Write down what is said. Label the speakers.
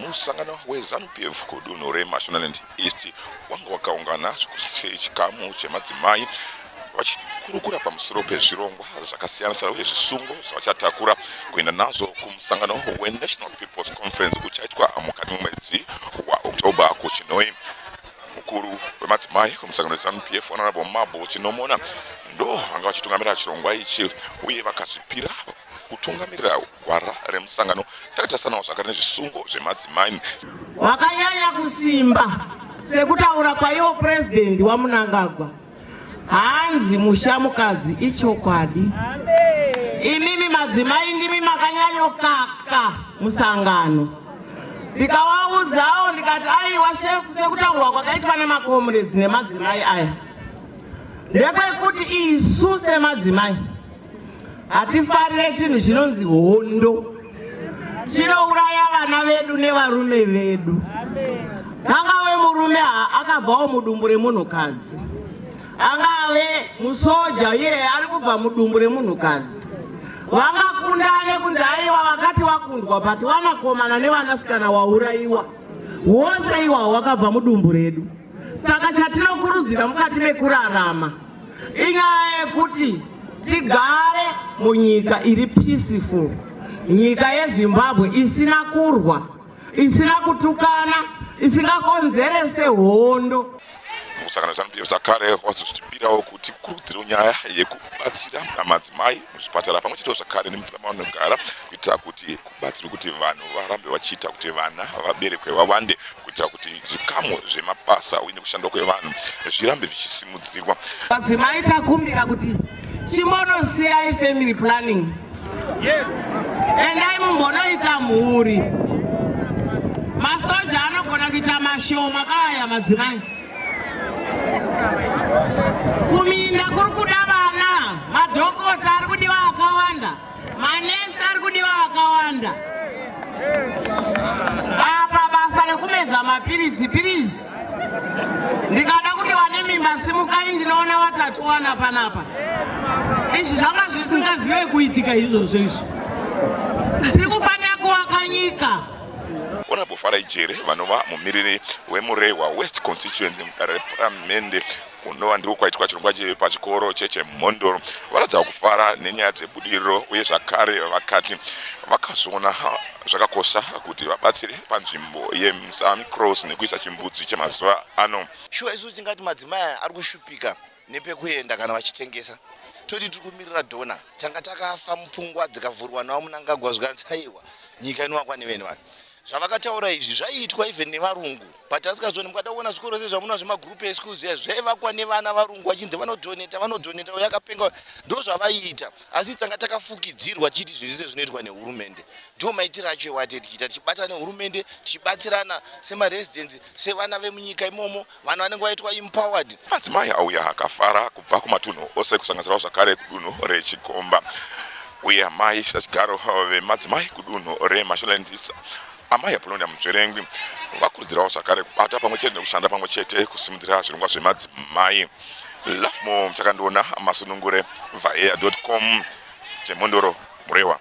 Speaker 1: musangano wezanu p f kudunhu remashonaland east wanga wakaungana chikamu chemadzimai vachikurukura pamusoro pezvirongwa zvakasiyana-siyana uye zvisungo zvavachatakura kuenda nazvo kumusangano wenational peoples conference uchaitwa mukati memwedzi waoctober kuchinoi mukuru wemadzimai kumusangano zanu p f honorable mabo chinomona ndo vanga vachitungamirira chirongwa ichi uye vakazvipira kutungamirira gwara remusangano takatarisanawo zvakare nezvisungo zvemadzimai wakanyanya
Speaker 2: kusimba sekutaura kwaiwo purezidhendi wamunangagwa Hanzi mushamukadzi ichokwadi. Imimi madzimai ndimi makanyanyokaka musangano. Ndikawaudzawo ndikati aiwa shefu sekutaurwa kwakaitwa nemakomuredzi nemadzimai aya. Ndepekuti isu semadzimai Hatifarire chinhu chinonzi hondo. Chinouraya vana vedu nevarume vedu. Angave murume akabvawo mudumbu remunhukadzi. Angave musoja iye ari kubva mudumbu remunhukadzi. Vangakundane kunzi aiwa vakati vakundwa but vanakomana nevanasikana waurayiwa. Wose iwawo wakabva mudumbu redu. Saka chatinokurudzira mukati mekurarama inyaya yekuti tigare munyika iri peaceful nyika yezimbabwe isina kurwa isina kutukana isingakonzerese hondo mukusangana
Speaker 1: zvanup zvakare wazozvitipirawo kuti kurudziro nyaya yekubatsira madzimai muzvipatara pamwe chete zvakare nemvura mavanogara kuitira kuti batsiri kuti vanhu varambe vachiita kuti vana vaberekwe vawande kuitira kuti zvikamu zvemabasa uye nekushandwa kwevanhu zvirambe zvichisimudzirwa vadzimai
Speaker 2: takumbira kuti chimbonosiyayi family planning yes. endai mumbonoita mhuri masoja anogona kuita mashoma kaaya madzimai kuminda kuri kuda vana madhokota ari kudiwa akawanda Manesi ari kudiwa akawanda apa basa rekumedza mapiritsi pirizi ndikada kuti vane mimba simukai ndinoona vatatu vana panapa izvi zvanga zvisingazive kuitika izvozvo izvi tiri kufanira kuvaka nyika honorable
Speaker 1: farai jere vanova mumiriri wemurehwa west constituency mudare reparamende kunova ndiko kwaitwa chirongwa pachikoro chechemhondoro varatidzawo kufara nenyaya dzebudiriro uye zvakare vakati vakazoona zvakakosha kuti vabatsire panzvimbo yemusan cross nekuisa chimbudzi chemazuva ano shuwa isu tingati
Speaker 3: madzimai aya ari kushupika nepekuenda kana vachitengesa toti tiri kumirira dona tanga takafa mupfungwa dzikavhurwa nawo munangagwa zvikanzi aiwa nyika inowakwa nevene vanhu zvavakataura izvi zvaiitwa even nevarungu but asikazoni mukada kuona zvikoro zve zvamuna zvemagroup eschools ya zvaivakwa nevana varungu vachinzi vanodhoneta vanodhoneta uyo akapenga ndo zvavaiita asi tanga takafukidzirwa tichiti zvinhu zvese zvinoitwa nehurumende ndiwo maitiro acho ewate tichiita tichibata nehurumende tichibatsirana semaresidence sevana vemunyika imomo vanhu vanenge vaitwa empowered madzimai auya
Speaker 1: akafara kubva kumatunhu ose kusanganisirawo zvakare kudunhu rechikomba uye amai sachigaro vemadzimai kudunhu remasholandisa Amai Apolonia Munzverengwi vakurudzirawo zvakare kubata pamwe chete nekushanda pamwe chete kusimudzira zvirongwa zvemadzimai. Lafmo Mchakandiona, Masunungure, Vhaea.com, Chemhondoro, Murewa.